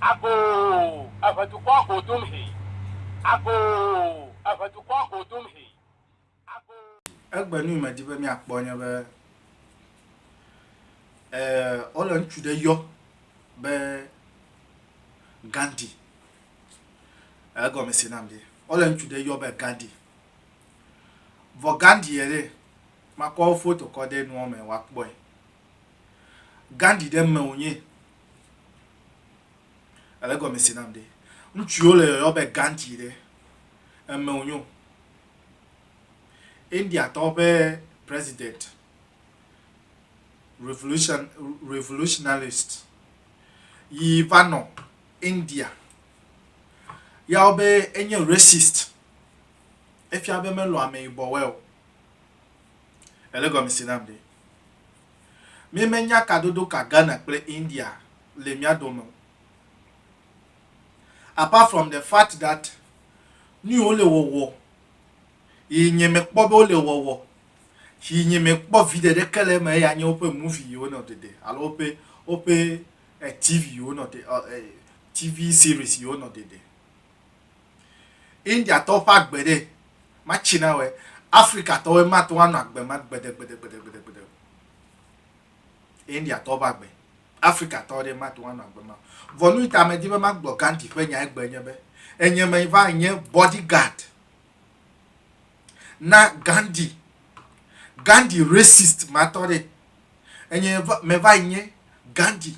Agoo, eve dukɔa go dum he. Agoo, eve dukɔa go dum he. Agoo. Egbe nu yi medi be miakpɔ nye be eh, wole ŋutsu ɖe yɔ be Gandhi. Egɔme se nam ɖi. Wole ŋutsu ɖe yɔ be Gandhi. Vɔ Gandhi ye ɖe, makɔ foto kɔ ɖe nua me woakpɔe. Gandhi ɖe me wònye Ele gɔme si nam ɖe. Ŋutsuwo le yɔyɔ be Gandhi ɖe. Eme wonyo. Indiatɔwo ƒe president, revolution, revolutionalist yi va nɔ India. Yawo be enye racist. Efia be melɔ̃ ameyibɔwoe o. Ele gɔme si nam ɖe. Míemenya kadodo ka Ghana kple India le mía dome o. Apart from the fact that nuyi wole wɔwɔ yi nye mekpɔ be wole wɔwɔ yi nye mekpɔ viɖe ɖeke le eme eya nye woƒe movie yi wonɔ ɖeɖe alo woƒe woƒe TV yi wonɔ ɖe TV series yi wonɔ ɖeɖe. Indiatɔwo ƒe agbe ɖe, matsi na wɔe. Afrikatɔwoe mate ŋu anɔ agbe ma gbedegbedegbedegbedegbede o. Indiatɔwo ƒe agbe, Afrikatɔwo ɖe mate ŋu anɔ agbe ma o. Vɔ nu yi ta medi be magblɔ Gandhi ƒe nya egbe nye be, enye me va nye body guard na Gandhi. Gandhi racist matɔ ɖe, enye me va yi nye Gandhi.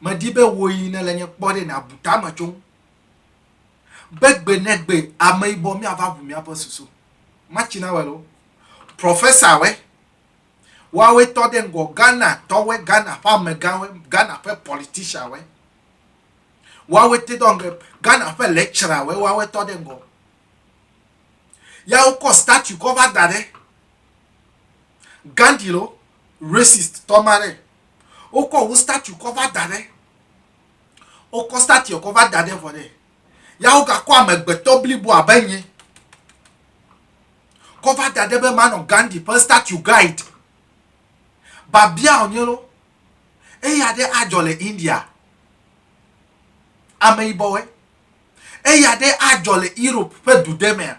Medi be wò yi nèle nye kpɔ ɖe nàbu tame tso ŋu be gbe ne gbe ameyibɔ míava ŋu míaƒe susu. Machinawɛ loo, Professawɛ, woawoe tɔ ɖe ŋgɔ, Ghanatɔwɛ, Ghana ƒe amegãwɛ, Ghana ƒe politicianwɛ, woawoe te dɔ ge, Ghana ƒe lecturawɛ, woawoe tɔ ɖe ŋgɔ. Ya wokɔ statue kɔ va da ɖe Gandhi loo, racist tɔ ma ɖe. Wokɔ wo statue kɔ va da ɖe. Wokɔ statuea kɔ va da ɖe vɔ ɖe. Ya wogakɔ amegbetɔ blibo abe nye kɔ va da ɖe be manɔ Gandhi ƒe statue guide. Babia wònye loo. Eya ɖe adzɔ le India. Ameyibɔwoe. Eya ɖe adzɔ le Europe ƒe du ɖe mea?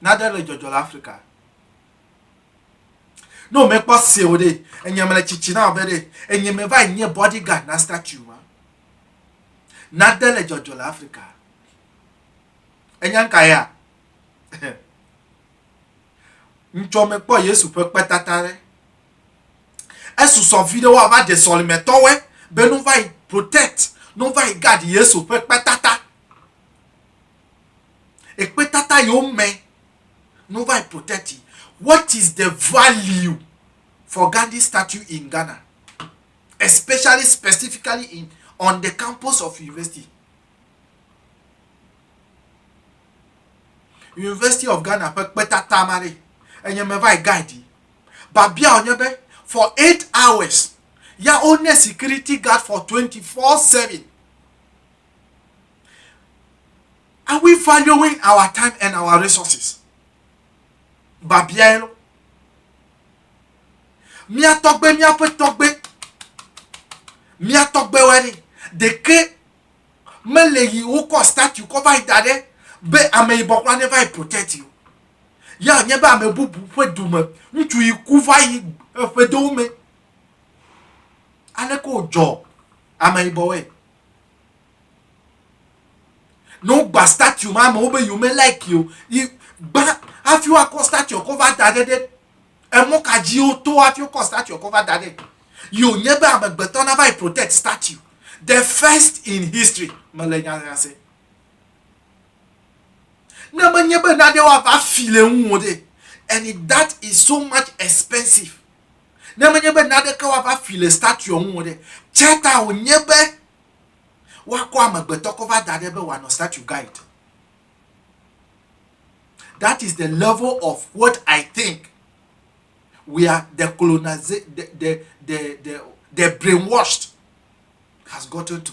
Nade le dzɔdzɔ le Afrika. Ne womekpɔ se o ɖe, enye mele tsitsi na ɔbe ɖe, enye me va nye bodyguard na statue ma. Nade le dzɔdzɔ le Afrika. Enya ka ya? Ŋtsɔ mekpɔ Yesu ƒe kpetata ɖe. Esusɔ vi ɖe woava ɖe sɔlime tɔwɔe be nu va yi protect, nu va yi guard Yesu ƒe kpetata. Ekpetata yewo me no va yi protect yi. What is the value for Gandhi statue in Ghana? Especially specifically in on the campus of university. University of Ghana ƒe kpetata ma ɖe enye me va yi guide yi. Babia wònye be for eight hours ya wone security guard for twenty four seven. Are we valuing our time and our resources? Babiae lɔ. Mia tɔgbe, miaƒe tɔgbe, mia tɔgbewoe ɖi. Ɖeke mele yi wokɔ statue kɔ va yi da ɖe be ameyibɔ kura neva yi protect yi o. Ya nye be ame bubu ƒe du me ŋutsu yi ku va yi eƒedowo me. Aleke wodzɔ ameyibɔwoe? ne wogba statue ma amewo be yome like o yi gba hafi woakɔ statue kɔ va da ɖe ɖe emɔ ka dzi woto hafi wokɔ statue kɔ va da ɖe yi wònye be amegbetɔ nava yi protect statue the first in history mele nyanya se ne menye be naɖe woava fi le ŋu o ɖe and that is so much expensive Ne menye be naɖeke woava fi le statuea ŋu o ɖe, tsia ta wònye be woakɔ amegbetɔ kɔ va da ɖe be wòanɔ statue gã yi te. That is the level of what I think. We are the colonized, the, the, the, the, the brainwashed has gotten to.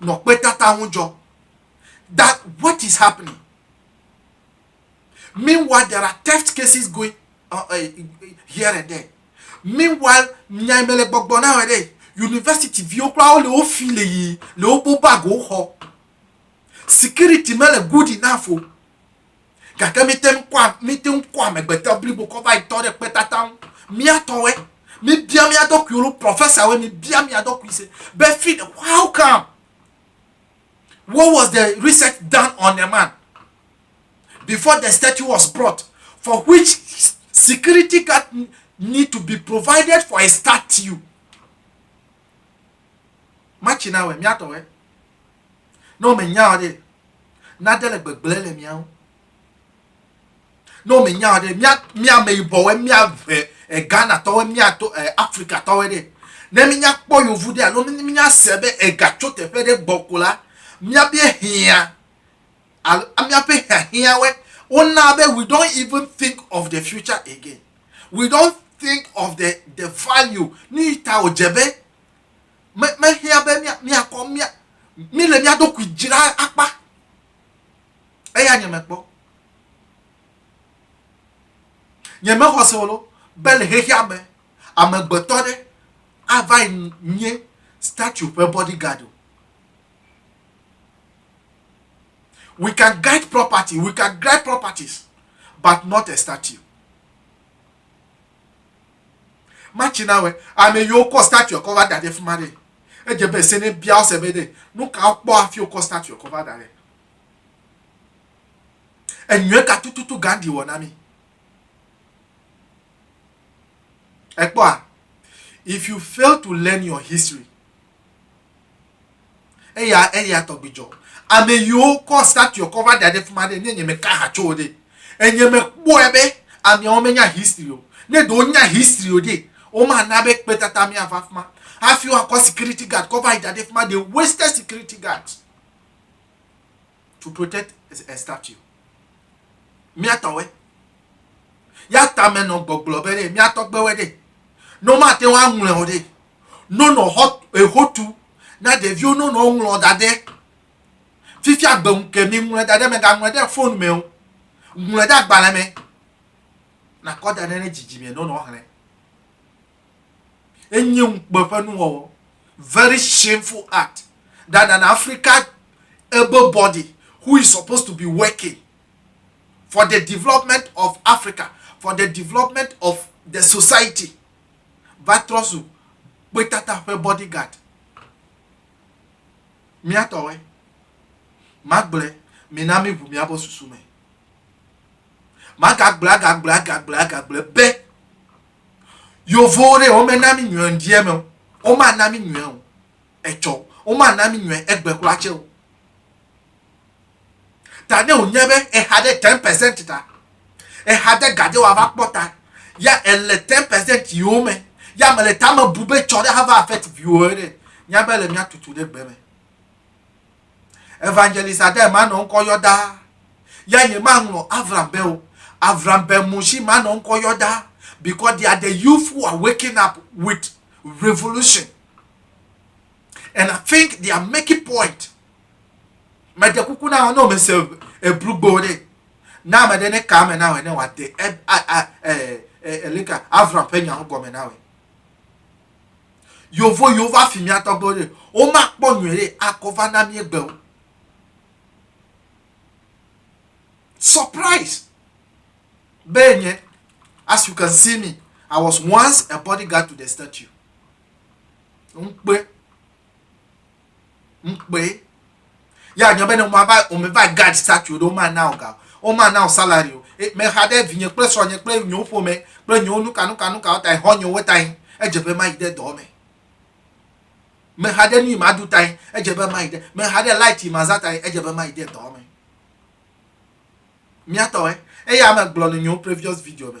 nɔ kpetata ŋu dzɔ that what is happening meanwhile there are theft cases going uh, uh, here and there meanwhile nyai mele gbɔgbɔ na wɔ ɖe university viwo kura wo le wo fi le yi le wo bo bago xɔ security mele good enough o. gake míte ŋu kɔa míte ŋu kɔa amegbetɔ blibo kɔ va yi tɔ ɖe kpetata ŋu mía tɔwoe míbia mía ɖokuiwo nu prɔfɛsawoe míbia mía ɖokui se be fi ɖe how come what was the research done on the man before the statue was brought for which security guard need to be provided for a statue Matsi na wɛ, miatɔ wɛ. Ne wome nya wɔ ɖe, nade le gbegble le miawo. Ne wome nya wɔ ɖe, mia mia me yibɔ wɛ, mia ve e Ghana tɔ wɛ, mia to e Afrika tɔ wɛ ɖe. Ne mi nya kpɔ yovu ɖe alo ne mi nya se be ega tso teƒe ɖe gbɔ ko la, mia bie hiã. Alo míaƒe hiahiãwoe wona be we don't even think of the future again. We don't think of the the value. Nuyi ta wòdze be me mehiã be mía míakɔ mía míle mía ɖokui dzra akpa. Eya nye mekpɔ. Nye mexɔ se wolo be le xexea me amegbetɔ ɖe ava nye statue ƒe bodyguard o. We can guide property, we can guide properties, but not a statue. Machinawe, ame yiwo kɔ statue kɔ va da ɖe fima ɖe. Edze be se ne bia wo se be ɖe, nu ka wokpɔ hafi wokɔ statue kɔ va da ɖe. Enyuie ka tututu Gandhi wɔ na mi? Ekpɔa, if you fail to learn your history, eya eya tɔgbi dzɔ ame yiwo kɔ statue kɔ va da ɖe fima ɖe ne nye me ka ha tso wo ɖe enye me kpɔe be ameawo me nya history o ne ɖewo nya history o ɖe wo ma na be kpe tata mea va fima hafi wa kɔ security guard kɔ va yi da ɖe fima de wasted security guard to protect a statue. Mia tɔwe. Ya tame nɔ gbɔgblɔ be ɖe mia tɔgbewe ɖe. No ma te wa ŋlɔ ɖe. No nɔ hɔ ehotu na ɖeviwo no nɔ ŋlɔ da ɖe. Fifia gbe ŋu ke mi ŋlɔ da ɖe me ga ŋlɔ ɖe phone me o. Ŋlɔ ɖe agbalẽ me. Na kɔ da ɖe ne dzidzi me no nɔ hlɛ. enye ŋukpe ƒe nuwɔwɔ very shameful act that an africa able body who is supposed to be working for the development of africa for the development of the society va trɔ zu kpetata ƒe bodyguard míatɔwoe magblẽ mina míʋu míaƒe susu me magagblẽ agagblẽ agagblẽ agagblẽ be Yovowo ɖe wome na mi nyuie ŋdi eme o. Woma na mi nyuie o. Etsɔ. Woma na mi nyuie egbe kura tse o. Ta ne wò nya be eha ɖe ten percent ta, eha de gade wa va kpɔ ta, ya ele ten percent yi wo me, ya me le tame bu be tsɔ ɖe ha va affect viwo ɖe, nya be le mia tutu ɖe gbe me. Evangelist Adair manɔ ŋkɔ yɔ ɖaa. Ya ye maŋlɔ Avram be o. Avram be Mushi manɔ ŋkɔ yɔ ɖaa because they are the youth who are waking up with revolution. And I think they are making point. Mede kuku na ɔno me se ebrugbo ɖe. Na me ɖe ne ka me na wɔ ne wɔ de elika Avram ƒe nya ŋgɔ me na wɔ. Yovo yiwo va fi mía tɔgbewo ɖe, womakpɔ nyuie ɖe akɔ va na mí egbe o. Surprise! Be nye, as you can see me, I was once a bodyguard to the statue. Ŋkpe. ŋkpee ya nyɔ be ne woma va wome va guard statue ɖe woma na o ga woma na o salary o e, mexa ɖe vinye kple sɔnye kple nyewo ƒome kple nyewo nuka nuka nuka wo tae xɔ nyewo tae edze be mayi ɖe dɔ me mexa ɖe nu yi ma du tae edze be mayi ɖe mexa ɖe light yi ma za tae edze be mayi ɖe dɔ me miatɔe eye ame gblɔ le nyewo previous video me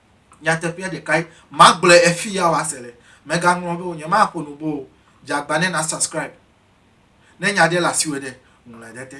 Nyateƒea ɖekae, magblɔe efi ya woase le. Megaŋlɔ be wonye, maƒo nu bo o. Dze agba ne na subscribe. Ne nya ɖe le asiwò ɖe, ŋlɔe ɖe te.